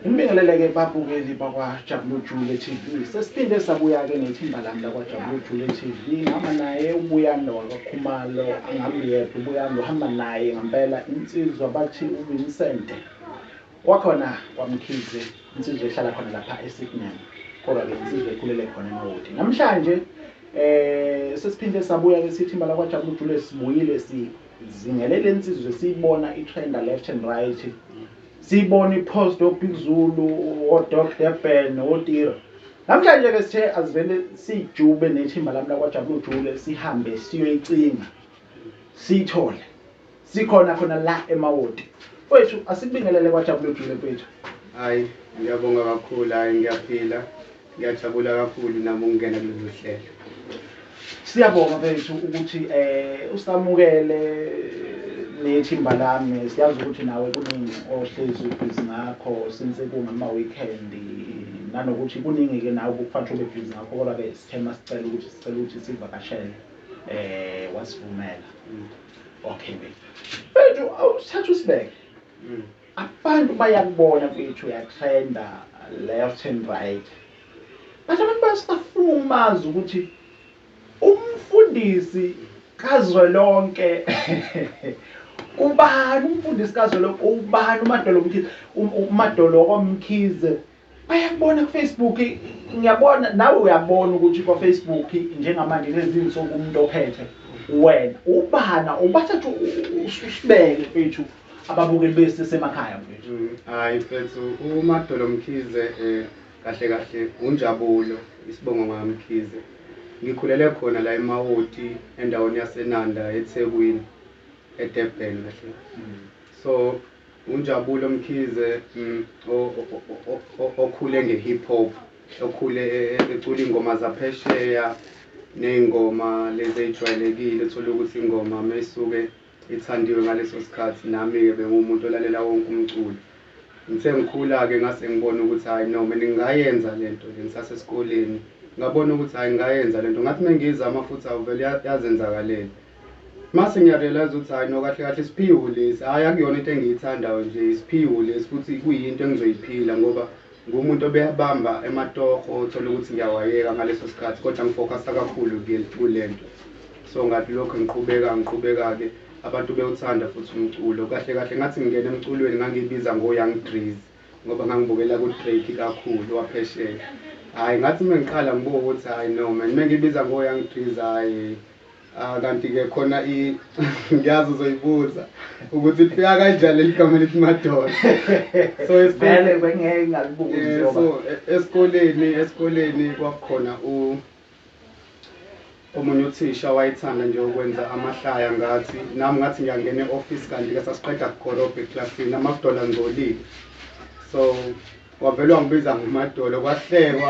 Ngibingelele-ke babukeli bakwaJabulujule TV. Sesiphinde sabuya-ke nethimba lami lakwaJabulujule TV. Ngihamba naye uBuyando wakaKhumalo, angihambi yedwa uBuyando, uhamba naye ngampela insizwa bathi uVincent wakhona kwaMkhize, insizwa ehlala khona lapha eSydney, kodwa-ke insizwa ekhulele khona eMawoti. Namhlanje um sesiphinde sabuya-ke sithimba lakwaJabulujule sibuyile si Zingelele insizwe siyibona itrenda left and right. Siyibona ipost oBig Zulu, oDoc Durban, oTira. Namhlanje ke sithe asivele sijube nethimba lami lakwaJabulu Jule sihambe siyoyicinga. Sithole. Sikhona khona la emawoti. Wethu asibingelele kwaJabulu Jule kwethu. Hayi, ngiyabonga kakhulu. Hayi, ngiyaphila. Ngiyajabula kakhulu nami ukungena kulolu hlelo. Siyabonga bethu ukuthi eh usamukele nethimba lami siyazi ukuthi nawe kuningi ohlezi ubhizi ngakho since kungama-weekend nanokuthi kuningi-ke nawe kukufanele ube bhizi ngakho kodwa-ke sithe uma sicela ukuthi sicela ukuthi sivakashele um wasivumela mm. okay bethu bethu awusithatha usibeke mm. Abantu bayakubona mfethu uyatrenda left and right but abantu basafuna umazi ukuthi umfundisi kazwelonke ubani umfundisi kazwelonke ubani umadolo mkhize umadolo omkhize Bayakubona kuFacebook ngiyabona nawe uyabona ukuthi kwa Facebook njengamanje lezinsuku umuntu ophethe wena ubana ubathathu usibeke mfethu ababukeli bese semakhaya mfethu mm, hayi mfethu uMadolo Mkhize eh, kahle kahle unjabulo isibongo ngamkhize ngikhulele khona la eMawoti endaweni yaseNanda eThekwini eDurban kahle mm. so UNjabulo Mkhize okhule nge-hip hop, okhule ecula iy'ngoma zaphesheya ney'ngoma lezi ey'jwayelekile uthole ukuthi ingoma uma isuke ithandiwe ngaleso sikhathi, nami-ke bengiwumuntu olalela wonke umculo. Ngithe ngikhula-ke ngase ngibona ukuthi hhayi no mina ngingayenza le nto le ngisasesikoleni, ngabona ukuthi hhayi ngingayenza le nto. Ngathi uma ngiyizama futhi awu vele yazenzakalela. Mase ngiya realise ukuthi hhayi no kahle kahle isiphiwo lesi, hhayi akuyona into engiyithandayo nje, isiphiwo lesi futhi kuyinto engizoyiphila ngoba ngumuntu obebamba ematoho othola ukuthi ngiyawayeka ngaleso sikhathi kodwa ngifocusa kakhulu kule nto. So ngathi lokho ngiqhubeka ngiqhubeka-ke abantu bewuthanda futhi umculo. Kahle kahle ngathi ngingena emculweni ngangibiza ngo-Young Dreez ngoba ngangibukela ku-Drake kakhulu waphesheya. Hhayi ngathi uma ngiqala ngibuke ukuthi hhayi no man uma ngibiza ngo-Young Dreez hhayi. Ah kanti ke khona i ngiyazi uzoyibuza ukuthi lifika kanjani ligama lithi madoda. So vele bengeke ngalibuze eh, ngoba so e, esikoleni esikoleni kwakukhona u omunye uthisha wayethanda nje ukwenza amahlaya ngathi nami ngathi ngiyangena e-office kanti ke sasiqeda kukorobha eclassini amadola ngcolile so wavele wangibiza ngomadolo kwahlekwa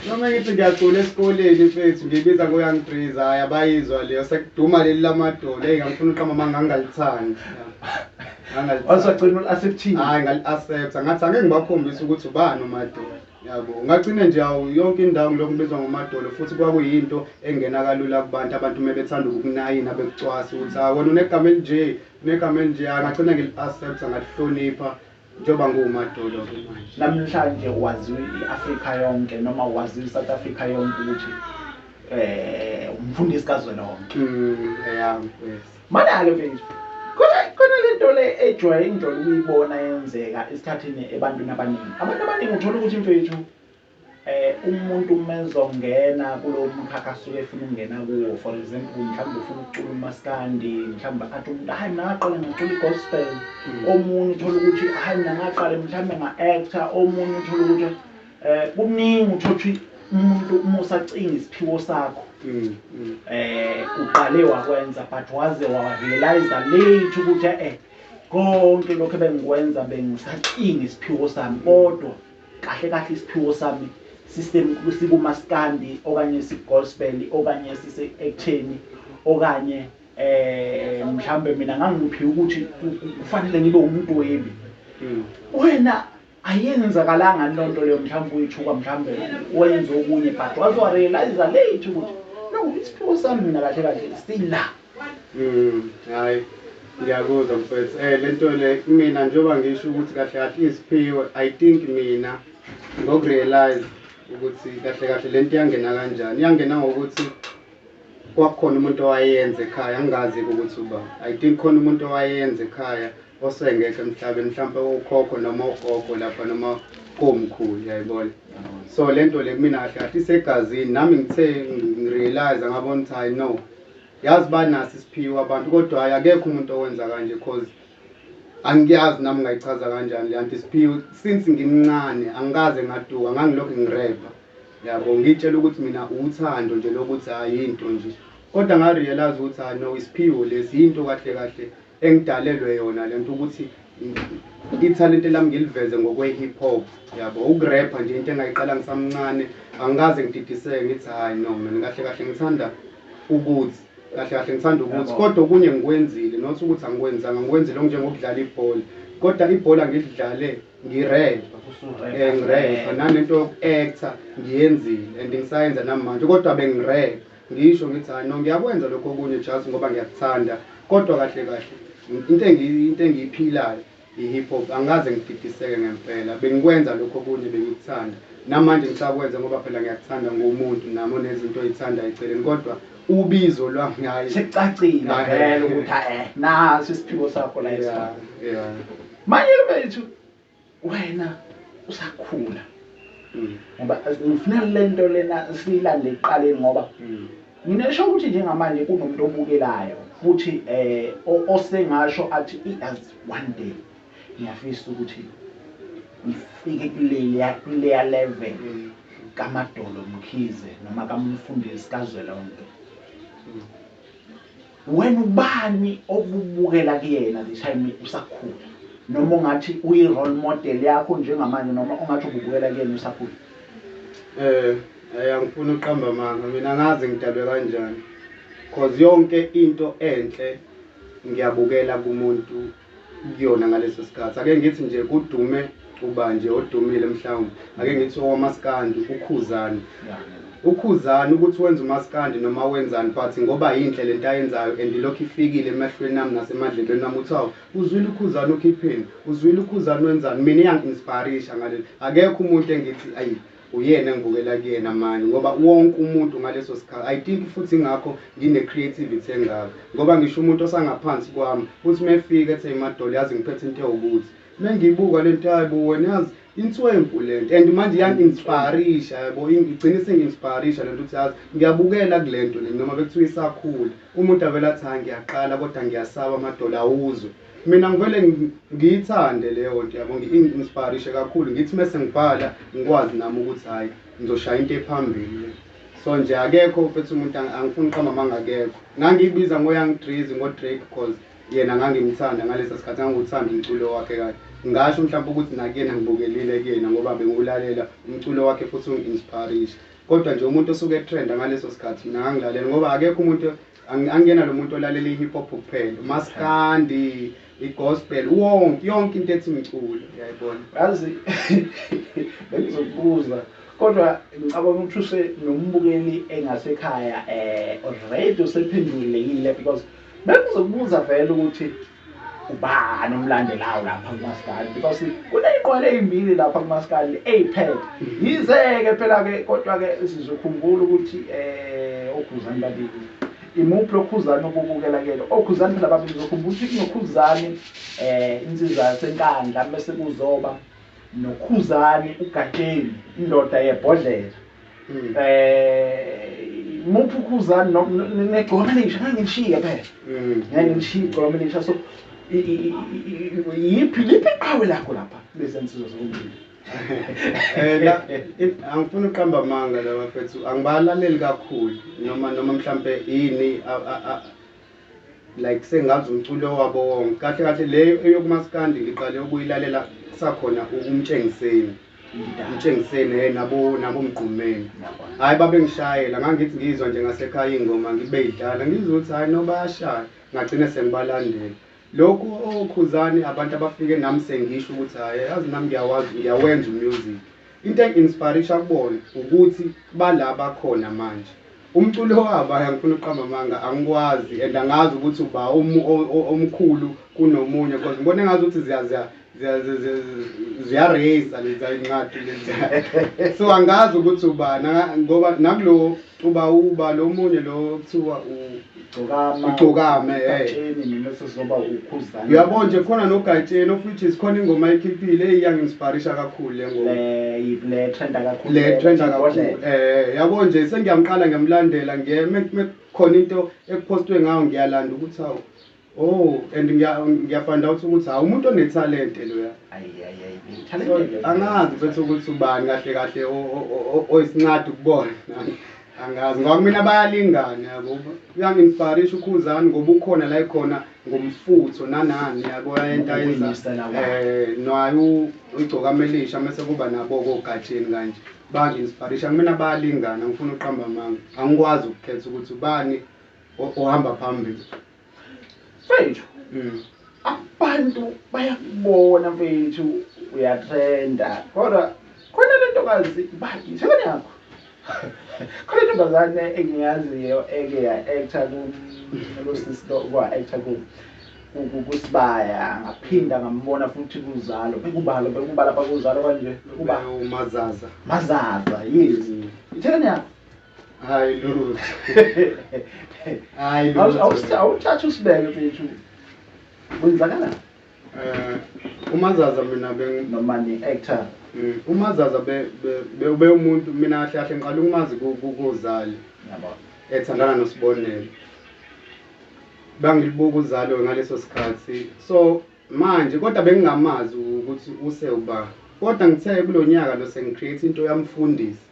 noma ngithi ngiyacula esikoleni mfethu ngibiza ngoyoung breeze hhayi abayizwa leyo sekuduma leli lamadolo eyi ngangifuna uqama ma ngangalithandi wasagcina uli-acceptile hhayi ngaliaccepta ngathi angeke ngibakhombise ukuthi ubani umadolo yabo ngagcine nje awu yonke indawo ngilokhu ngibizwa ngomadolo futhi kwakuyinto engena kalula kubantu abantu uma bethanda ukukunayina bekucwasa ukuthi hayi wena unegama elinje unegama elinje hhayi ngagcina ngili-accepta ngalihlonipha Njengoba ngiwuMadoda kumanje. Namhlanje waziwa i-Afrika yonke noma waziwa i-South Africa yonke ukuthi eh umfundisi kazwelonke. Mm, yeah, yes. Mana-ke mfethu khona khona le nto le ejwayele ngijwayele ukuyibona yenzeka esikhathini ebantwini abaningi abantu abaningi uthola ukuthi mfethu Umuntu uma ezongena kulowo mkhakha asuke efuna ukungena kuwo for example mhlawumbe ufuna ukucula umaskandi mhlawumbe athi umuntu hhayi mina ngaqala ngacula i-gospel omunye uthole ukuthi hhayi mina ngaqale mhlawumbe nga-actor omunye uthole ukuthi um kuningi uthole ukuthi umuntu uma usacinga isiphiwo sakho um uqale wakwenza but waze warealiza late ukuthi e-e konke lokhu ebengikwenza bengisacinga isiphiwo sami kodwa Kahle kahle isiphiwo sami sistem sikumaskandi okanye sigospel okanye sise ektheni okanye eh mhlambe mina ngangiphiwa ukuthi kufanele ngibe umdwebi hmm. wena ayenzakalanga lonto leyo mhlawumbe uyithuka mhlawumbe wenza okunye but wazorealize late ukuthi no isiphiwo sami mina kahle kahle sila Mm, hayi ngiyakuzwa mfethu eh lento le mina njengoba ngisho ukuthi kahle kahle iziphiwe i think mina ngokurealize ukuthi kahle kahle lento iyangena kanjani iyangena ngokuthi kwakukhona umuntu owayenza ekhaya angazi ukuthi uba i think khona umuntu owayenza ekhaya osengekho emhlabeni mhlawumpe ukhokho noma ugogo lapha noma komkhulu yayibona so lento le mina kahle kahle isegazini nami ngithe ngirealize ngabona ukuthi hayi no Yazi banaso isiphiwo abantu kodwa hayi akekho umuntu owenza kanje cause angiyazi nami ngayichaza kanjani le anti isiphiwo since ngimncane angikaze ngaduka ngangilokhu ngirepha yabo ngitshela ukuthi mina uthando nje lokuthi hayi into nje kodwa ngarealize ukuthi hayi no isiphiwo lesi yinto kahle kahle engidalelwe yona lento ukuthi ithalente lami ngiliveze ngokwe-hip hop yabo ukurepha nje into engayiqala ngisamncane angikaze ngididiseke ngithi hhayi no mina kahle kahle ngithanda ukuthi kahle kahle ngithanda ukuthi kodwa okunye ngikwenzile not ukuthi angikwenzanga ngikwenzile okunjengokudlala ibhola kodwa ibhola ngilidlale ngirepa um eh, ngirepa nanento yoku-actor ngiyenzile and ngisayenza namanje kodwa bengirepa Ngisho ngithi hayi no ngiyakwenza lokhu okunye just ngoba ngiyakuthanda kodwa kahle kahle into engiyi into engiyiphilayo i hip hop angikaze ngididiseke ngempela bengikwenza lokhu okunye bengikuthanda namanje ngisakwenza ngoba phela ngiyakuthanda ngumuntu nami onezinto oyithanda eceleni kodwa ubizo lwami hayi Sicacile Ah, vele eh. ukuthi eh nasi isiphiwo sakho la Yeah, esifana. yeah. Manje ke bethu Wena usakhula mm. ngoba ngifuna lento lena siyilande ekuqaleni ngoba mm. mina esho ukuthi njengamanje kunomuntu obukelayo futhi eh osengasho athi as one day ngiyafisa ukuthi ngifike kuleya kuleya level mm. kamadolo mkhize noma kamfundisi kazwelonke Wena ubani obubukela kuyena the time usakhula noma ungathi uyi role model yakho njengamanje noma ungathi ububukela kuyena usakhula? Eh ay angifuni uqamba amanga mina angazi ngidalwe kanjani cause yonke into enhle ngiyabukela kumuntu kuyona ngaleso sikhathi ake ngithi nje kudume ubanje odumile mhlawumbe ake ngithi owamaskandi ukhuzani ukhuzani ukuthi wenza umaskandi noma wenzani but ngoba yinhle le nto ayenzayo and ilokhu ifikile emehlweni ami nasemadlebeni nami ukuthi awu uzwile ukhuzani ukhipheni uzwile ukhuzani wenzani mina iyangi-inspirisha ngaleli akekho umuntu engithi ayi Uyena engibukela kuyena mani ngoba wonke umuntu ngaleso sikhathi I think futhi ingakho ngine creativity engaka ngoba ngisho umuntu osangaphansi kwami uthi mefika ethi emadolo yazi ngiphethe into ewukuthi mengiyibuka lento hayibo wena yazi inswempu lento and manje iyangi inspirisha yabo igcina isingi inspirisha lento ukuthi yazi ngiyabukela kulento le noma bekuthiwa isakhula umuntu avela athi ha ngiyaqala kodwa ngiyasaba amadolo awuzwe Mina ngivele ngiyithande leyo nto yabo ngi-inspirishe kakhulu ngithi uma sengibhala ngikwazi nami ukuthi hhayi ngizoshaya into ephambili so nje akekho mfethu umuntu angifuni uqamba amanga akekho ngangiyibiza ngoyoung drazy ngodrake cause yena ngangimthanda ngalesa sikhathi ngangiwuthanda umculo wakhe kahle ngasho mhlawumbe ukuthi nakuyena ngibukelile kuyena ngoba bengiwulalela umculo wakhe futhi ungi-inspirishe kodwa nje umuntu osuke etrenda ngaleso sikhathi mina ngangilalela ngoba akekho umuntu Angiyena lo muntu olalela i-hip hop kuphela, umaskandi, i-gospel, wonke yonke into ethi mculo, uyayibona. Yazi bengizokubuza kodwa ngicabanga ukuthi use nombukeli engasekhaya eh already usephendulekile because bengizokubuza vele ukuthi ubani omlandelayo lapha kumaskandi because kuney'nqwele ey'mbili lapha kumaskandi ey'phethe yize-ke phela-ke kodwa-ke sizokhumbula ukuthi um okhuzani babili imuphi lokhuzani obubukela kuyena okhuzani phela babili zokhumbula ukuthi kunokhuzani um insizwa yasenkandla mese kuzoba noKhuzani uGatsheni indoda yebhodlela mm. eh muphi uKhuzani negcoma lisha ngangilishiye phela mm. ngangilishiye igcoma lisha so yiphi liphi iqhawe lakho lapha lezi nsizwa zokumbili eh angifuni uqamba amanga la bafethu angibalaleli kakhulu noma noma mhlambe yini like sengazi umculo wabo wonke kahle kahle leyo eyokumaskandi ngiqale ukuyilalela sakhona ukumtshengiseni mtshengiseni hey nabo nabo mgqumeni hayi babengishayela ngangithi ngizwa nje ngasekhaya ingoma ngibeyidlala ngizwe ukuthi hayi no bayashaya ngagcine sengibalandela Lokhu oh Khuzani abantu abafike nam sengisho ukuthi hhay yazi nam ngiyawazi ngiyawenza u music into engi inspirisha kubona ukuthi bala abakhona manje umculo wabo hhay angifuni ukuqamba amanga angikwazi and angazi ukuthi uba omkhulu kunomunye coz ngibona engazuthi ziya ziya ziyareyisa leza incwadi leza so angazi ukuthi uba ngoba nakulo uba uba lo munye lo kuthiwa ugcokame eh. uyabona nje khona nogatsheni of which is khona ingoma ekhiphile eyiyanginsiparisha kakhulu le ngomale trenda kakhulu um eh, yabo nje sengiyamqala ngiyamlandela ngiye khona into ekuphostwe ngayo ngiyalanda ukuthi awu Oh and ngiya ngiya find out ukuthi hawu umuntu onethalente loya. Ayi ayi ayi. So Talente. angazi mfethu ukuthi ubani kahle kahle o- o- o- o- oyisincadi ukubona. Angazi ngoba kumina bayalingana yabo. Uyanginfarisha ukhuzani ngoba ukhona la ekhona ngomfutho nanani yabo ayenta yenza. Ukulungisa lawa. Eh nayo ugcoka amelisha mase kuba nabo kogatsheni kanje. Banginfarisha kumina bayalingana ngifuna uqamba amanga. Angikwazi ukukhetha ukuthi ubani o- ohamba phambili mfethu Mm. abantu bayakubona mfethu uyatrenda kodwa khona le ntokazi baki sekweni yakho khona intombazane engiyaziyo eke ya-actor kulosisi kwa-actor ku- ku- ku- kusibaya ngaphinda ngambona futhi kuzalo bekubalo bekubala bakuzalo kanje bekuba Umazaza. mazaza yes ithekeni yakho hayi lutho hayi awuthathe usibeke mfethu kwenzakalani eh umazaza mina bengimani actor mm. umazaza be be umuntu mina kahle kahle ngiqala ukumazi kuzali yabo ethandana nosibonelo bangilibuka uzalo ngaleso sikhathi so manje kodwa bengingamazi ukuthi use uba kodwa ngithe kulonyaka lo sengicreate into yamfundisi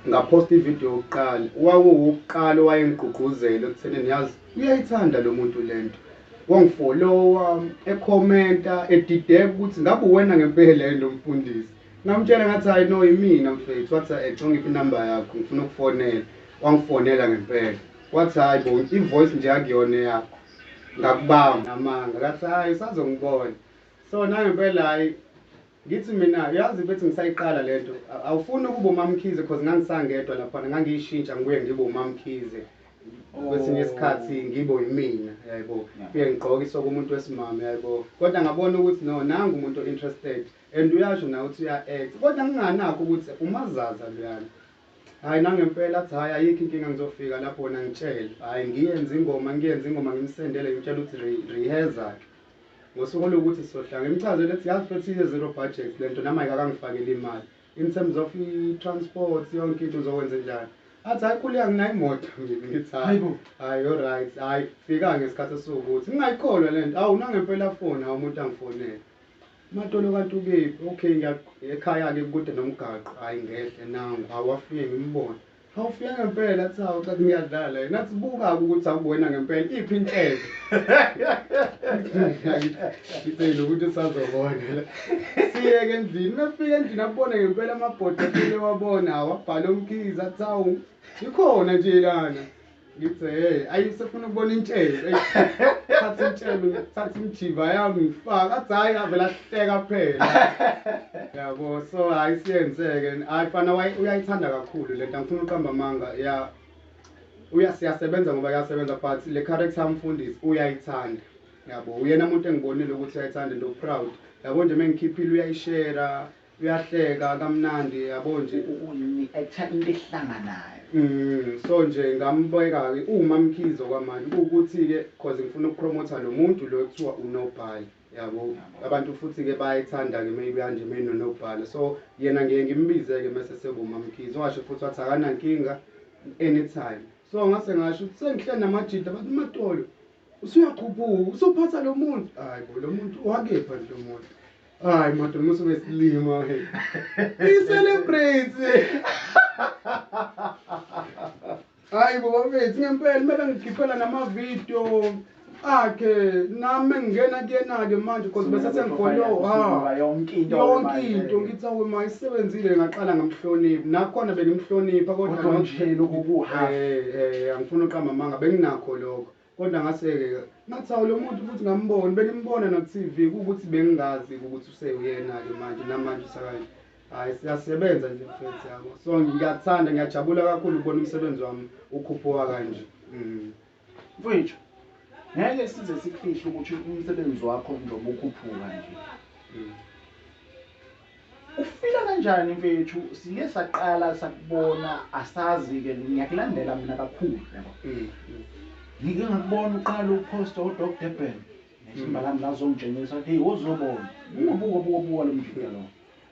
ngaphosta ividiyo yokuqala wawuwukuqala owayengigqugquzela ekuthenini yazi uyayithanda lo muntu le nto wangifolowa ekhomenta edideka ukuthi ngabe uwena ngempela yini lo mfundisi ngamtshela ngathi hhayi no yimina mfethu wathi hhayi eco ngiphi inamba yakho ngifuna ukufonela wangifonela ngempela wathi hhayi bo i-voice nje akuyona eyakho ngakubamba amanga kathi hhayi usazongibona so nangempela hhayi Ngithi mina uyazi bethi ngisayiqala lento awufuni ukuba umamkhize cause ngangisangedwa laphana ngangiyishintsha ngibuye ngibe umamkhize kwesinye oh. isikhathi ngibo yimina yaybo kuye ngigqoke isoko umuntu wesimama yaybo kodwa ngabona ukuthi no nangu umuntu o-interested and uyasho nawe ukuthi uya-act kodwa nginganakho ukuthi umazaza luyana hhayi nangempela athi hhayi ayikho inkinga ngizofika lapho wona ngitshele hhayi ngiyenze ingoma ngiyenze ingoma ngimsendele ngimtshela ukuthi reheza-ke Ngosuku oluwukuthi sizohlanga. Imchazele ukuthi yazi mfethu iye zero budget lento nami ayikakangifakeli imali. In terms of i-transport yonke into uzokwenza njani? Athi hayi khuleka nginayo imoto mina ngithi hayi. Hayi all right. Hayi fika ngesikhathi esiwukuthi. Ngingayikholwa lento. Awu nangempela foni hawu umuntu angifonele. Matolo kanti ukephi? Okay ngiya ekhaya ke kude nomgaqo. Hayi ngehle nangu. Hawu wafike ngimbona. Awufile ngempela athi hawu cha ngiyadlala yena athi buka ukuthi akuwena ngempela iphi inhlelo ngicela ukuthi usazobona siyeke endlini mefika endlini abone ngempela amabhodwe ewabona awabhala umkhizi athi hawu ikhona nje lana Ngithe hey, ayi sefuna ukubona intshebe. Thatha intshebe, thatha imjiva yami ngifaka. Athi hayi avela hleka phela. Yabo, so hayi siyenzeke. Hayi fana uyayithanda kakhulu lento. Angifuni uqamba amanga. Yeah. Uya siyasebenza ngoba yasebenza but le character yamfundisi uyayithanda. Yabo, uyena umuntu engibonile ukuthi uyayithanda and u proud. Yabo nje mengikhiphile uyayishare. Uyahleka kamnandi yabo nje. Umi I time into ehlanganayo. Mm so nje ngambeka ke uwuma Mkhize okwamanje kuwukuthi ke cause ngifuna ukupromoter lo muntu lo ekuthiwa uNobhala yabo Yabo. abantu futhi ke bayayithanda ke maybe kanje menoNobhala so yena ngiye ngimbize ke mase sekuma Mkhize washo futhi wathi akanankinga anytime so ngase ngasho ukuthi sengihleli namajita bathi uMatolo usuyakhuphuka usuphatha lo muntu hayi bo lo muntu wakepha nje lo muntu Hayi madoda musu besilima hey. I celebrate. Hayi baba mfethu ngempela kumele ngikhiphela nama video akhe nami ngingena kuyena ke manje because bese sengifolo ha yonke into yonke into ngithi awu ma isebenzile ngaqala ngamhlonipha nakhona bengimhlonipha kodwa nje lokukuha eh eh angifuni uqamba manga benginakho lokho Kodwa ngaseke ngathi awu lo muntu futhi ngambona bengimbona naku-TV kuwukuthi bengingazi ukuthi usewuyena-ke manje namanje usakanje hayi siyasebenza nje mfethu yabo so ngiyakuthanda ngiyajabula kakhulu ukubona umsebenzi wami ukhuphuka kanje mm. mfowethu ngeke size sikufihle ukuthi umsebenzi wakho njengoba ukhuphuka nje mm. Ufila kanjani mfethu siye saqala sakubona asazi ke ngiyakulandela mina kakhulu yabo. Mm. Ngike ngakubona uqala upost odog Durban. Nethimba mm. lami lazongitshengisa ukuthi uzobona. Buka buka buka buka lo mjita lo.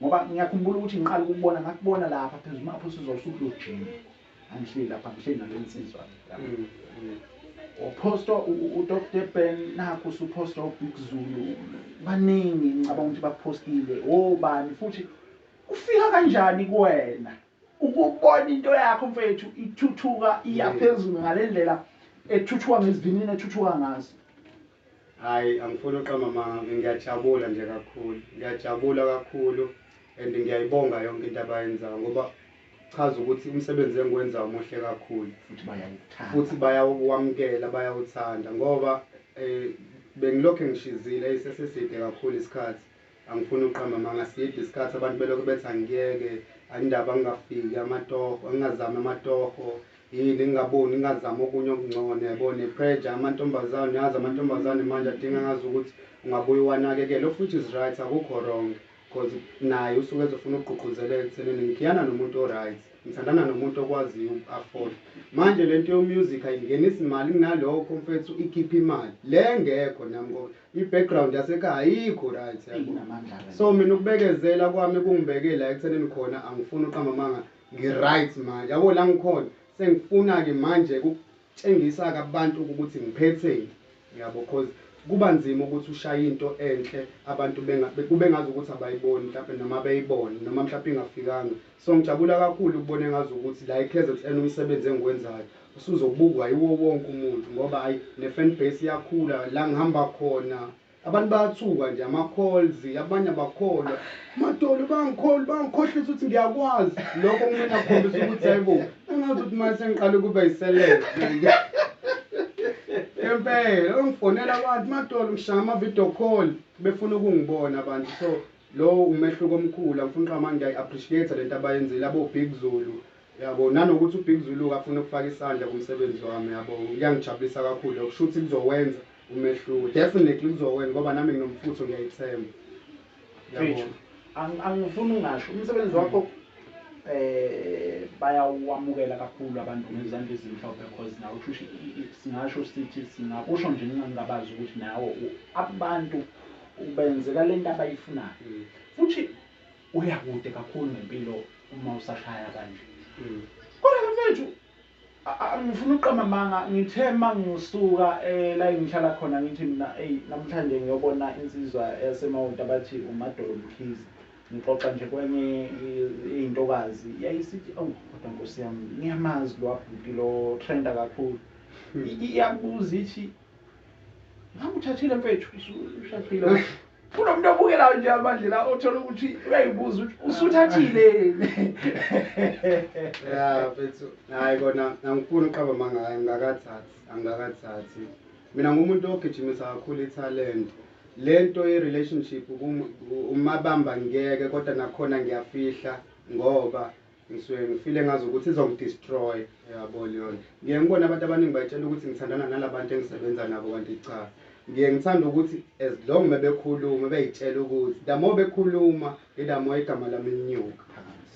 Ngoba ngiyakhumbula ukuthi ngiqala ukubona ngakubona lapha phezulu mapho sizosukujima. angishiyi lapha angishiyi nale nsizwa mm, mm. uphosta udr ben nakho usuphosta ubig zulu baningi ngicabanga ukuthi baphostile obani oh, futhi ufika kanjani kuwena ukubona into yakho mfethu ithuthuka iyaphezulu ngale ndlela ethuthuka ngezivinini ethuthuka ngazo Ay angifuni uqamba amanga ngiyajabula nje kakhulu ngiyajabula kakhulu and ngiyayibonga yonke into abayenzayo ngoba chaza ukuthi umsebenzi engiwenza umuhle kakhulu futhi bayawuthanda futhi bayawukwamukela bayawuthanda ngoba eh bengilokhu ngishizile iseseside kakhulu isikhathi Angifuni ukuqamba amanga side iskhathi abantu belokhu bethi angiyeke anindaba ngingafiki amatoho ngingazami amatoho yini ngingaboni ngingazami okunye okungcono yabo ne pressure amantombazane uyazi amantombazane manje adinga ngazi ukuthi ungabuye uwanakekele of which is right akukho wrong cause naye usuke ezofuna ukugqugquzeleka ekuthenini ngikhiyana nomuntu o-right ngithandana nomuntu okwaziyo uku-afford manje le nto yomusic ayingenisi mali kunalokho mfethu ikhipha imali le ngekho nami ngoba I background yasekhaya ayikho right yabo. So mina ukubekezela kwami kungibeke la ekuthenini khona angifuni uqamba amanga ngi right manje. Yabo la ngikhona sengifuna ke manje ukutshengisa ke abantu ukuthi ngiphetheni. Yabo cause kuba nzima ukuthi ushaye into enhle abantu benga kube ngazi ukuthi abayiboni mhlawumbe noma beyibone noma mhlawumbe ingafikanga So ngijabula kakhulu ukubona engazukuthi la eKZN umsebenzi engiwenzayo usuzobukwa yiwo wonke umuntu ngoba ayi ne fan base iyakhula la ngihamba khona abantu bayathuka nje ama calls abanye abakholwa madolo bangikholwa bangikhohlisa ukuthi ngiyakwazi lokho kumele akhombisa ukuthi hayibo engazi ukuthi manje sengiqale ukuba yiselele ngempela ongifonela abantu madolo ngishaya ama video call befuna ukungibona abantu so Lowo umehluko omkhulu amfunqamanga ngiyayi appreciate lento abayenzile abo big Zulu yabo nanokuthi u big Zulu ke afune ukufaka isandla kumsebenzi wami yabo kuyangijabulisa kakhulu lokho shuthi kuzowenza umehluko definitely kuzowenza ngoba nami nginomfutho ngiyayithemba yabo. Mfethu angifuni ungasho umsebenzi wakho um bayawamukela kakhulu abantu ngezandla ezimhlophe because nawe kushuthi singasho sithi singakusho nje ngingabazi ukuthi nawe abantu ukuba yenzeka lento abayifunayo mm. futhi uya kude kakhulu ngempilo uma usashaya kanje mm. kodwa mfethu angifuna uqamba manga ngithe mangiyosuka eh, la ngihlala khona ngithi mina ey namhlanje ngiyobona insizwa yasemawonta bathi umadolo mkhize ngixoxa nje kwenye intokazi yayisithi awu kodwa nkosi yami ngiyamazi lo abhuti lo trenda kakhulu hmm. iyakubuza ithi Ngamuthathile mfethu ushaqile. Kunomuntu obukelayo nje amanje la othola ukuthi uyayibuza ukuthi usuthathile yini. Yeah mfethu. Hayi kona angifuni uqaba manga angakathathi angakathathi. Mina ngumuntu ogijimisa kakhulu italent. Lento ye relationship umabamba ngeke kodwa nakhona ngiyafihla ngoba Ngisuke ngifile ngazi ukuthi izongi destroy yabo leyonto. Ngiye ngibone abantu abaningi bayitshela ukuthi ngithandana nalabantu engisebenza nabo kanti cha. Ngiye ngithanda ukuthi as long mebekhuluma beyitshela ukuthi the more bekhuluma the more igama lami linyuka.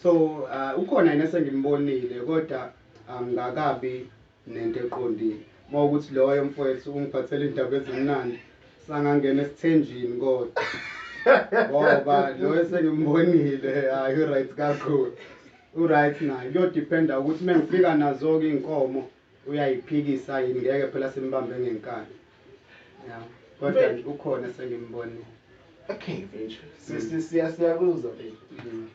So uh, ukhona yena sengimbonile kodwa angikakabi nento eqondile mawukuthi loyo mfwethu ungiphathela indaba ezimnandi sangangena esithenjini kodwa ngoba loyo sengimbonile hayi uright kakhulu uright naye kuyodependa ukuthi uma ngifika nazo-ke iy'nkomo uyayiphikisa yini ngeke phela simbambe ngenkani ya kodwa ukhona sengimbonile okay mfethu siyakuzwa mm.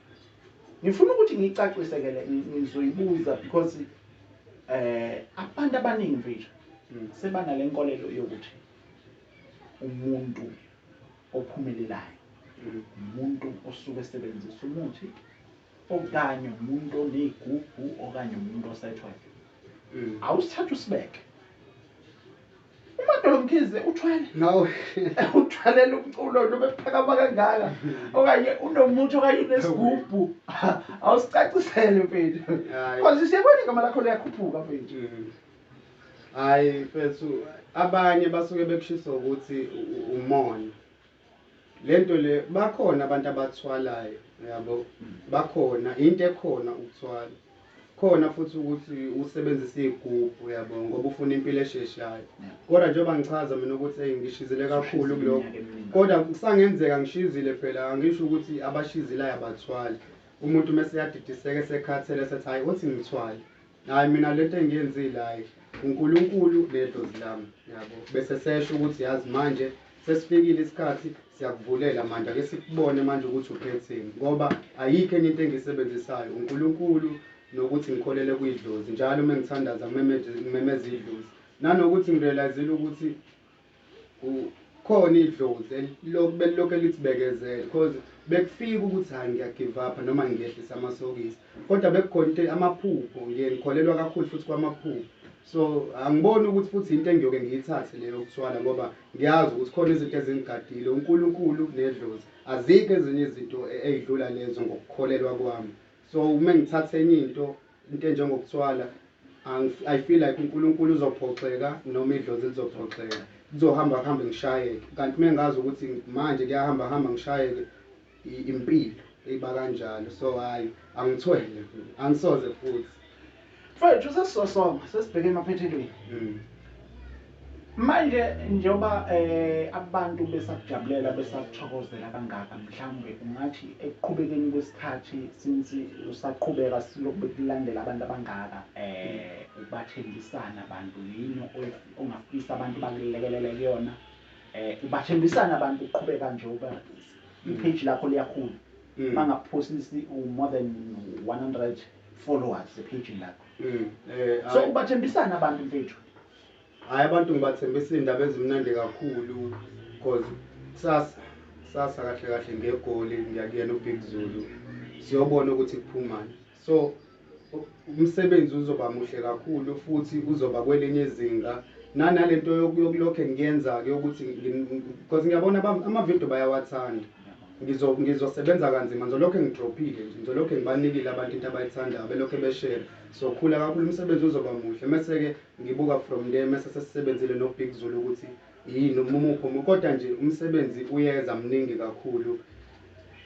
Ngifuna ukuthi ngicacise ke le ngizoyibuza because eh abantu abaningi mfethu hmm. sebana lenkolelo yokuthi umuntu ophumelelayo hmm. umuntu osuke esebenzisa umuthi okanye umuntu oneyigubhu okanye umuntu osethwele hmm. awusithatha usibeke umadolo mkhize uthwele no uthwalela umculo noma ephakama kangaka okanye unomuthi okanye unesigubhu awusicacisele mfethu cause siyabona igama lakho liyakhuphuka mfethu mm-hmm. hayi mfethu abanye basuke bekushisa ukuthi umona Lento le bakhona abantu abathwalayo yabo bakhona into ekhona ukuthwala khona futhi ukuthi usebenzisa igubhu yabo ngoba ufuna impilo esheshayo kodwa njengoba ngichaza mina ukuthi hey ngishizile kakhulu kuloko kodwa kusangenzeka ngishizile phela angisho ukuthi abashizilayo abathwali umuntu mese yadidiseka sekhathele sethi hayi othi ngithwale Hayi mina lento engiyenzile hayi uNkulunkulu nedlozi lami yabo bese sesho ukuthi yazi manje sesifikile isikhathi siyakuvulela manje ake sikubone manje ukuthi uphetheni ngoba ayikho enye into engisebenzisayo uNkulunkulu nokuthi ngikholele kwidlozi njalo uma ngithandaza ngimemeza idlozi nanokuthi ngirealizile ukuthi Kukhona idlozi elilokhu belilokhu elithi bekezela cause bekufika ukuthi hhayi ngiya give up noma ngehlise amasokisi kodwa bekukhona into amaphupho ngiye ngikholelwa kakhulu futhi kwamaphupho so angiboni ukuthi futhi into engiyoke ngiyithathe leyo yokuthwala ngoba ngiyazi ukuthi khona izinto ezingigadile uNkulunkulu nedlozi azikho ezinye izinto ezidlula lezo ngokukholelwa kwami so uma ngithatha enye into Into enjengokuthwala I feel like uNkulunkulu uzophoxeka noma idlozi lizophoxeka kuzohamba kuhambe ngishayeke kanti mengazi ukuthi manje kuyahamba hamba ngishayeke impilo eyiba kanjalo so hayi angithwele angisoze futhi mfethu sesizosonga sesibheke emaphethelweni hmm. Manje njengoba abantu besakujabulela besakuthokozela kangaka mhlawumbe ungathi ekuqhubekeni kwesikhathi since usaqhubeka silokhu bekulandela abantu abangaka ubathenjisani abantu yini ongafisa abantu bakulekelele kuyona ubathenjisani abantu uqhubeka nje uba i-page lakho liyakhula bangaphosisi more than 100 followers ephejini lakho so ubathenjisani abantu mfethu Hayi abantu ngibathembisa iy'ndaba ezimnandi kakhulu because kusasa kusasa kahle kahle ngegoli ngiyakuyena ubig zulu siyobona ukuthi kuphumani so umsebenzi uzoba muhle kakhulu futhi uzoba kwelinye izinga nanale nto yokulokhe ngiyenza-ke yokuthi because ngiyabona amavidiyo bayawathanda ngizosebenza kanzima ngizolokhu ngidrophile nje ngizolokhu ngibanikile abantu into abayithandayo belokhu beshere sokhula kakhulu umsebenzi uzoba muhle mese-ke Ngibuka from le mese sesisebenzile no Big Zulu ukuthi yini umuphi omunye kodwa nje umsebenzi uyeza mningi kakhulu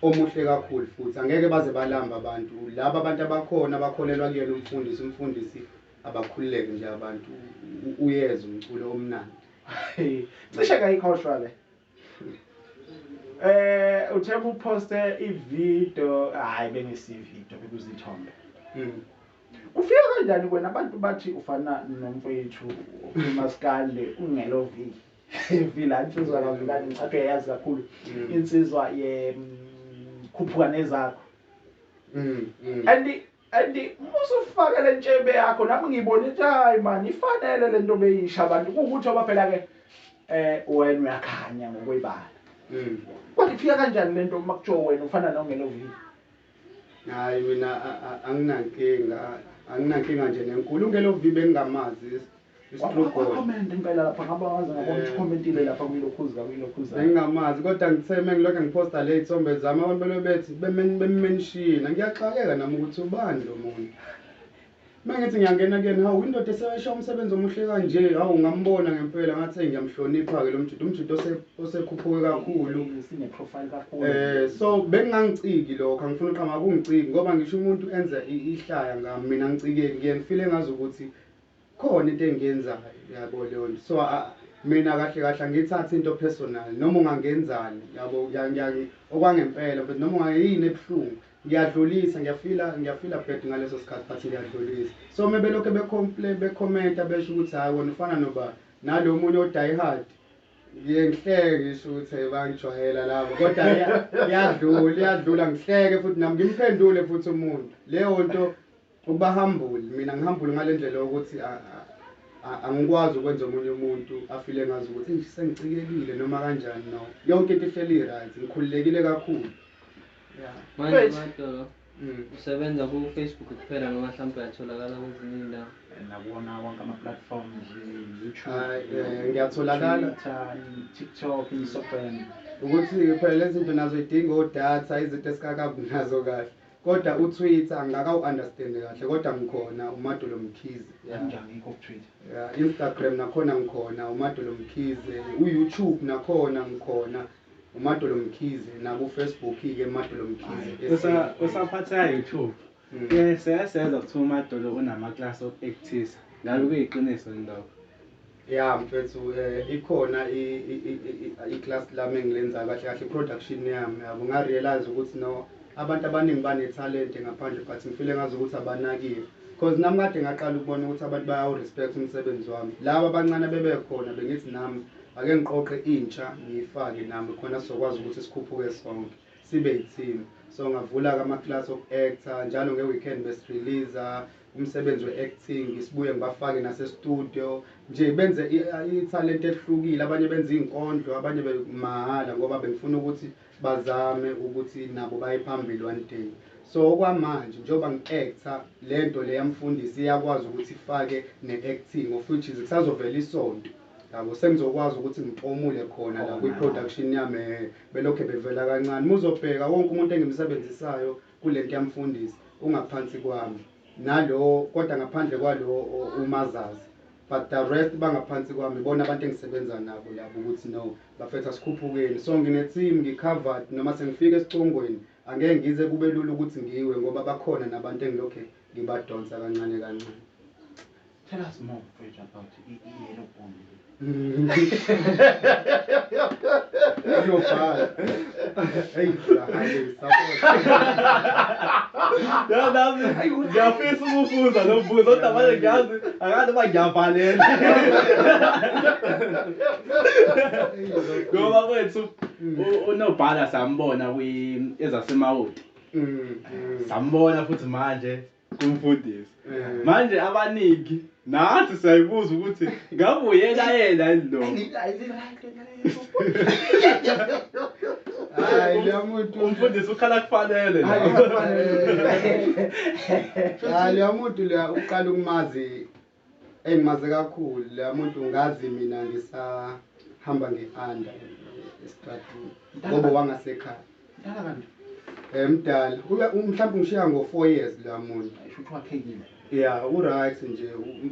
omuhle kakhulu futhi angeke baze balamba abantu laba abantu abakhona bakholelwa kuyena umfundisi umfundisi abakhululeke nje abantu uyeza umculo omnandi cishe kayikhohlwa le Eh uthe kuposte ivideo hayi bengisi video bekuzithombe. Mm. Ufika kanjani wena abantu bathi ufana nomfowethu uMaskande ungelovi. Vila insizwa kaVilani ngicathu yayazi kakhulu mm. insizwa ye mm, khuphuka nezakho. Mm, mm. And And uma usufake lentshebe yakho nami ngibona ukuthi hayi man ifanele lento beyisha abantu ukuthi oba phela ke eh wena uyakhanya ngokwebala. Mm. Kodwa ifika kanjani lento uma kutsho wena ufana nongena ovini? Hayi mina anginankinga anginankinga nje nenkulu ungena ovibe engingamazi Comment impela lapha ngabe waze ngabona ukuthi commentile lapha kuyilokhuzi ka kuyilokhuzi. Ngingamazi kodwa ngithe mengilokhu ngiposta le ithombe zami abantu belo bethi bemenshina ngiyaxakeka nami ukuthi ubani lo muntu. Mengithi ngiyangena kuyena hawu indoda esewesha umsebenzi omuhle kanje hawu ngambona ngempela ngathi ngiyamhlonipha ke lo mjito umjito osekhuphuke kakhulu sine profile kakhulu eh so bengangiciki lokho angifuni uqhama kungiciki ngoba ngisho umuntu enza ihlaya ngami mina ngicike ngiyengifile ngazi ukuthi khona into engiyenzayo yabo leyonto so mina kahle kahle angiyithathi into personal noma ungangenzani yabo okwangempela but noma ungayini ebuhlungu ngiyadlulisa ngiyafila ngiyafila bad ngaleso sikhathi but ngiyadlulisa so uma belokhu becomplain becomenta besho ukuthi hhayi wona ufana noba nalo munye odayihard ngiye ngihleke ngisho ukuthi bangijwayela labo kodwa iyadlula iyadlula ngihleke futhi nami ngimphendule futhi umuntu leyo nto Ukuba humble, mina ngi humble ngalendlela yokuthi angikwazi ukwenza omunye umuntu afile ngazi ukuthi eish sengicikekile noma kanjani no. Yonke into ihleli right, ngikhululekile kakhulu. Yeah. Manje Right. Madolo Mm. usebenza ku Facebook kuphela noma mhlawumbe uyatholakala kwezinye indawo. nakuwona wonke ama-platforms youtube Ay, eh, ngiyatholakala. Twitter, tiktok instagram Ukuthi phela lezi zinto nazo idinga odata izinto esikakabi nazo kahle. Koda u Twitter angaka u understand kahle koda ngikhona uMadulo Mkhize. Nami nje angikho ku Twitter. Ya Instagram nakhona ngikhona uMadulo Mkhize u YouTube nakhona ngikhona uMadulo Mkhize naku Facebook ke Madulo Mkhize. Kusa kusaphatha YouTube. Mm. Ke seyaseza kuthiwa uMadulo unama class okutisa. Ngabe kuyiqiniso yini lokho? Ya mfethu eh, ikhona i, i, i, i, i class lami engilenzayo kahle kahle production yami yabo nga realize ukuthi no abantu abaningi bane talent ngaphandle but ngifile ngazi ukuthi abanakiwe because nami kade ngaqala ukubona ukuthi abantu bayawu respect umsebenzi wami laba abancane bebekhona bengithi nami ake ngiqoqe intsha ngiyifake nami khona sizokwazi ukuthi sikhuphuke sonke sibe yithini so ngavula-ke ama-class oku-actor njalo nge-weekend besireleasa umsebenzi we-acting ngisibuye ngibafake nasestudio nje benze ithalente elihlukile abanye benza iy'nkondlo abanye mahhala ngoba bengifuna ukuthi bazame ukuthi nabo baye phambili one day so okwamanje njengoba ngi-acta le nto le yamfundisi iyakwazi ukuthi ifake ne-acting of which is kusazovela isonto yabo sengizokwazi ukuthi ngipomule khona la kwi-production yami belokhe bevela kancane muzobheka wonke umuntu engimsebenzisayo Kulento yamfundisi ungaphansi kwami nalowo kodwa ngaphandle kwalowo umazazi but the rest bangaphansi kwami ibona abantu engisebenza nabo labo ukuthi no bafethu asikhuphukeni so ngine team ngi covered noma sengifika esicongweni angeke ngize kube lula ukuthi ngiwe ngoba bakhona nabantu engilokhe ngibadonsa kancane kancane. Tell us more mfethu about i-yellow bone uyobhala eyi ngiyafisa ukubuza lo mbuzo kodwa manje ngiyazi angazi uba ngiyavalela ngoba kwethu unobhala sambona ezasemawoti sambona futhi manje umfundisi manje abaningi nathi siyayibuza ukuthi ngabe uyena yena yini lo Hayi lo muntu. umfundisi ukhala kufanele Hayi, la. kufanele. Hayi lo muntu la uqala ukumazi Eyi maze kakhulu la muntu ngazi mina ngisahamba nge-anda esitratini ngoba wangasekhaya mdala kanti um mdala mhlawumbe ungishiya ngo-four years la muntu ya u-right nje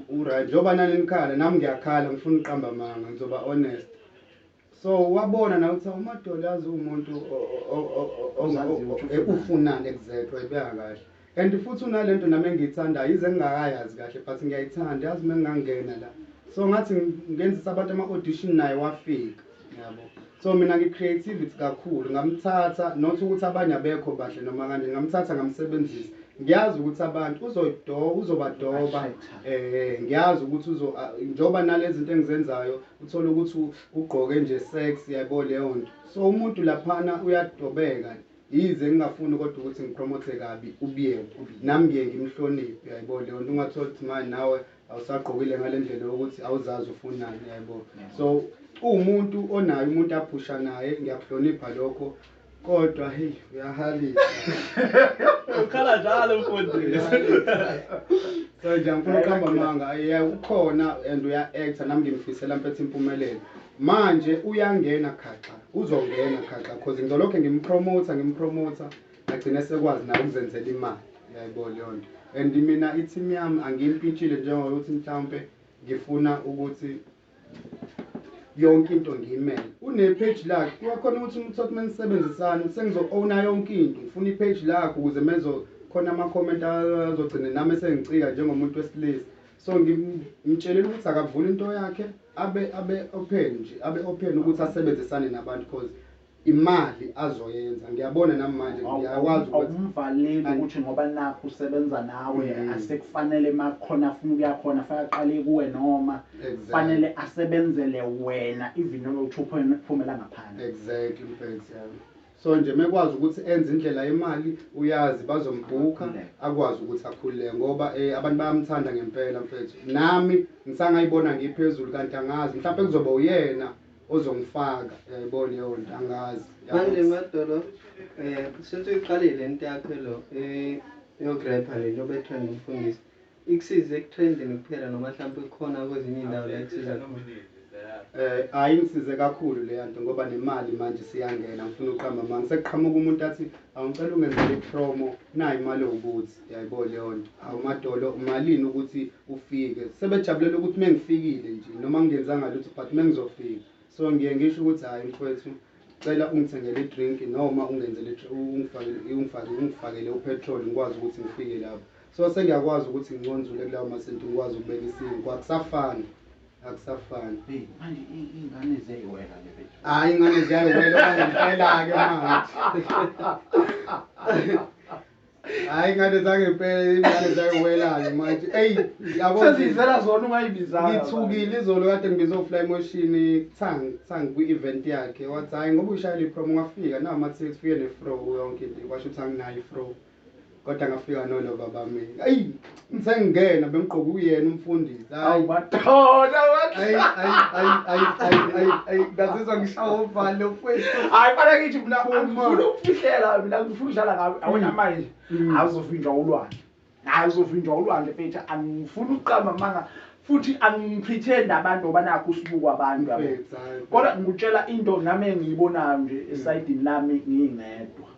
u-right njengoba nani nikhala nami ngiyakhala ngifuna uqamba manga ngizoba honest so wabona nawe ukuthi umadoli yazi uwumuntu ufunani exactly wayibeka kahle and futhi unale nto nami engiyithandayo yize ngingakayazi kahle but ngiyayithanda yazi uma ngingangena la so ngathi ngenzisa abantu ama-audition naye wafika yabo so mina ngi-creativity kakhulu ngamthatha not ukuthi abanye abekho bahle noma kanje ngamthatha ngamsebenzisa ngiyazi ukuthi abantu uzodoba uzobadoba um ngiyazi ukuthi njengoba nale zinto engizenzayo Uthole ukuthi ugqoke nje sex yaybo leyonto so umuntu laphana uyadobeka yize ngingafuni kodwa ukuthi ngipromote kabi uBiyeni nami ngiye ngimhloniphe yaybo leyonto ungathola ukuthi manje nawe awusagqokile ngalendlela yokuthi awuzazi ufunani yaybo so uwumuntu onaye umuntu aphusha naye ngiyakuhlonipha lokho Kodwa hey uyahalisa. Ukhala njalo mfundisi. So nje ngifuna ukuqamba amanga yeah ukhona and uya actor nami ngimfisela mfethu impumelelo. Manje uyangena khaxa uzongena khaxa cause ngizolokhe ngimpromoter ngimpromoter agcine sekwazi naye ukuzenzela imali yayibona leyo nto. And mina i-team yami angiyimpintshile njengokuthi mhlawumpe ngifuna ukuthi yonke into ngiyimele une-page lakhe kuyakhona ukuthi umuntu sothi uma nisebenzisane sengizo-owna yonke into ngifuna i-page lakhe ukuze mezokhona ama-comment azogcine nami esengicika njengomuntu wesilisa so ngimtshelele ukuthi akavule into yakhe abe abe open nje abe open ukuthi asebenzisane nabantu cause imali azoyenza ngiyabona nami manje ngiyakwazi ukuthi awumvaleli ukuthi ngoba nakho usebenza nawe mm. asekufanele makukhona afuna ukuya khona faka qale kuwe noma kufanele exactly. asebenzele wena even noma uthupha phumela ngaphandle exactly mfethu yami so nje mekwazi ukuthi enze indlela yemali uyazi bazombhuka akwazi ukuthi akhulule ngoba eh, abantu bayamthanda ngempela mfethu nami ngisangayibona ngiphezulu kanti angazi mhlawumbe kuzoba uyena ozongifaka yaybo leyonto angazi manje madolo eh since uyiqalile lento yakho lo eh yokurepha le nto betrend umfundisi ikusize ekutrendini kuphela noma mhlawumbe kukhona kwezinye indawo la ikusiza khona Eh hayi ngisize kakhulu leya nto ngoba nemali manje siyangena ngifuna uqamba manje sekuqhamuka umuntu athi Awu ngicela ungenzele ipromo nayi imali ewubuthi yayibo leyonto awu madolo umalini ukuthi ufike sebejabulela ukuthi mengifikile nje noma ngingenzanga lutho but mengizofika so ngiye ngisho ukuthi hayi mfwethu cela ungithengele idrink noma ungenzele ungifakele ungifakele ungifakele upetrol ngikwazi ukuthi ngifike lapho so sengiyakwazi ukuthi nginconzule kulawo masenti ngikwazi ukubeka isimo kwakusafana Akusafani. Hey, manje i- ingane ziyayiwela le bethu. Hayi ingane ziyayiwela manje ngempela-ke mangathi. Hayi ingane zangempela ingane zayiwela-ke manje. Eyi yabo nje, Seziyizela zona ungayibizanga. ngithukile izolo kade ngibize ufly emotion tsang tsang kwi-event yakhe wathi hhayi ngoba uyishayela i-prom wafika nawu mathithi ufike ne-fro yonke into kwasho ukuthi anginayo i-fro kodwa ngafika nolo baba mina ayi ngisengingena bengigqoka uyena umfundisi awubathona ngazizwa ngishawa ovalo mfwethu hayi fana ngithi mina ngifuna ukufihlela mina ngifuna udlala ngawe awona mm. manje mm. azovinjwa ulwandle hayi uzovinjwa ulwandle mfethu angifuni ukuqamba amanga futhi angiphithenda abantu ngoba nakho usibukwa abantu kodwa ngikutshela into nami engiyibonayo nje esayidini lami ngingedwa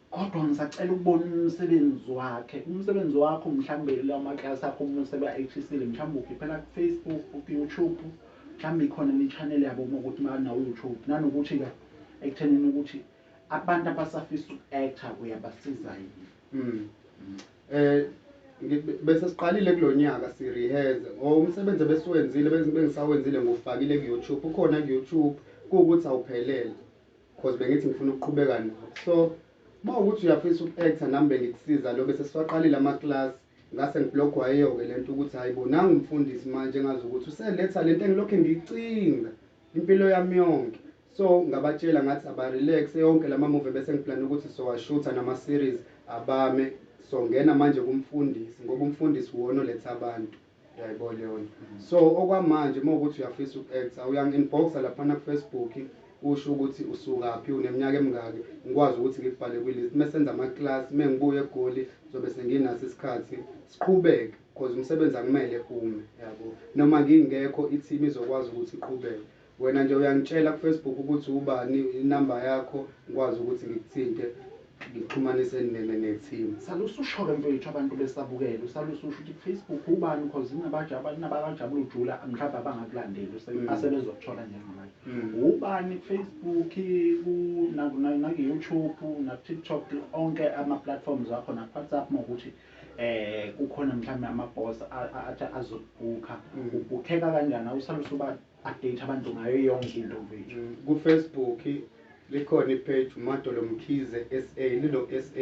Kodwa ngisacela ukubona umsebenzi wakhe. Umsebenzi wakho mhlawumbe lamaklasi akho uma useba-achisile mhlawumbe ukhiphela ku-Facebook, ku-YouTube mhlawumbe ikhona ne-channel yabo uma ukuthi banawu-YouTube nanokuthi-ke ekuthenini ukuthi abantu abasafisa uku-acta uyabasiza yini um bese siqalile kulo nyaka siriheze or umsebenzi ebesiwenzile bengisawenzile ngufakile ku-youtube ukhona ku-youtube kuwukuthi awuphelele Cause bengithi ngifuna ukuqhubeka nawe. So uma ukuthi uyafisa uku-actor nami bengikusiza lo bese siwaqalile ama-class ngase ngiblogwa yiyo-ke le nto ukuthi hhayi bo nangu umfundisi manje engazi ukuthi useletha le nto engilokhu ngicinga impilo yami yonke so ngabatshela ngathi abarelaxe yonke la mamuvi bese ngiplane ukuthi sowashutha nama-series abame songena manje kumfundisi ngoba umfundisi wona oletha abantu Yaybo Leon. So okwamanje uma ukuthi uyafisa uku-actor uyangi-inboxa laphana kuFacebook usho ukuthi usukaphi, uneminyaka emingaki, ngikwazi ukuthi ngikubhale kwi-list. Uma senza ama-class, uma ngibuya eGoli ngizobe senginaso isikhathi siqhubeke cause umsebenzi akumele ume, yabo. Noma ngingekho i-team izokwazi ukuthi iqhubeke. Wena nje uyangitshela kufacebook ukuthi ubani inumber yakho ngikwazi ukuthi ngikuthinte ngikuxhumanise neteam. Sale ususholo mfethu abantu besabukela usale ususho ukuthi kufacebook ubani because inabakajabula ujula mhlawumbe abangakulandeli mm. asebezokuthola njengamanje mm. ubani kufacebook nakuyoutube nakutiktok onke ama-platforms akho nakuwhatsapp ma ukuthi um kukhona mhlawumbe amabhos athi azokubhukha mm. ubhukheka kanjani awusale usuba update abantu ngayo yonke into mfethu mm, ku Facebook likhona ipage umadolo mkhize sa lilo sa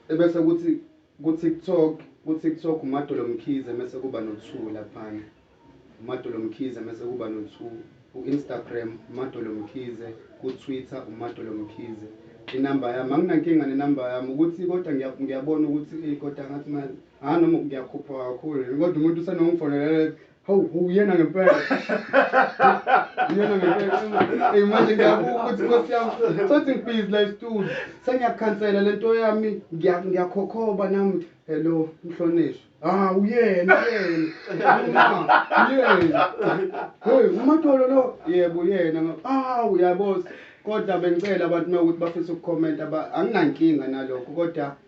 ebese kuthi ku TikTok ku TikTok umadolo mkhize mase kuba no 2 laphana umadolo mkhize mase kuba no 2 ku Instagram umadolo mkhize ku Twitter umadolo mkhize inamba yami anginankinga nenamba yami ukuthi kodwa ngiyabona ukuthi kodwa ngathi manje ah noma ngiyakhupha kakhulu kodwa umuntu usenokungifonela Hawu uyena ngempela. Uyena ngempela. Hey manje ngiyabuka ukuthi Nkosi yami sothi ngibhizi la isitulo. Sengiyakhansela lento yami ngiyakhokhoba nami. Hello mhlonishwa. Ah uyena uyena. Uyena. Hey umatolo lo. Yebo uyena. Ah uyabona. Kodwa bengicela abantu uma ukuthi bafisa ukukhomenta anginankinga nalokho kodwa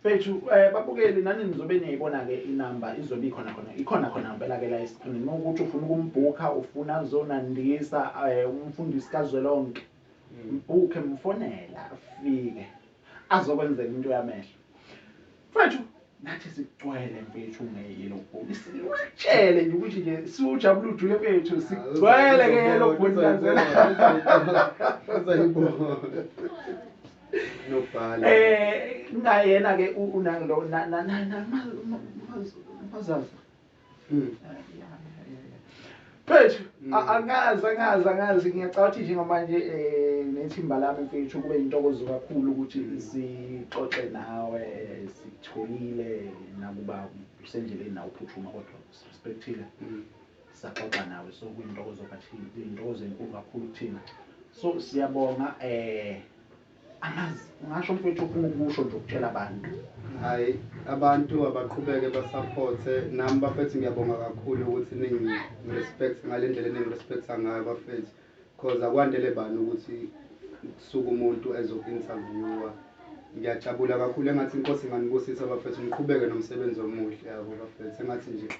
Mfethu eh, babukeli nani nizobe niyayibona ke inamba izobe ikhona khona ikhona khona ngempela ke la esiqhingini uma ukuthi ufuna ukumbhukha ufuna azonandisa eh, umfundisi kazwelonke mbhukhe mfonela afike azokwenzela into yamehlo mfethu nathi sigcwele mfethu ngeyelo bhoni siwatshele nje ukuthi nje siwujabula ujule mfethu sigcwele ngeyelo bhoni kanzela Uzayibona. nobhala eh ngayena ke unang lo na na na na mazaza mm Mfethu mm. angazi angazi angazi ngiyacabanga ukuthi njengamanje eh nethimba lami mfethu kube intokozo kakhulu ukuthi mm. sixoxe nawe sitholile nakuba usendleleni nawe uphuthuma kodwa respectile mm. saxoxa nawe so kuyintokozo kakhulu kuyintokozo enkulu kakhulu kuthina so siyabonga eh angazi ngasho mfethu ufuna ukusho nje ukuthela abantu hayi abantu abaqhubeke basaphothe nami bafethu ngiyabonga kakhulu ukuthi ningi-respect ngale ndlela eningi-respecta ngayo bafethu cause akwandele bani ukuthi kusuke umuntu ezoku-interviewa ngiyajabula kakhulu engathi inkosi inganibusisa bafethu niqhubeke nomsebenzi omuhle yabo bafethu engathi nje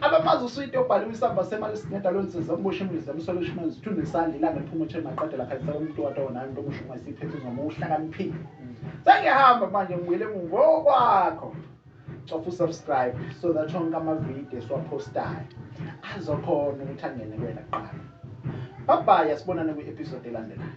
Abamazi uswidi obhaliwe isamba semali esinedalo ensiza umboshe embizi emsola ushimela zithu nesandla ilanga liphuma uthe maqedela khanyisa umuntu wathi wona umuntu omusho uma isiphethizwa uma uhlakaniphile sengiyahamba manje ngibuyele ngokwakho cofa usubscribe so that onke amavidiyo esiwaphostayo azokhona ukuthi angene kuwena kuqala babhayi asibonane kwi-episode elandelayo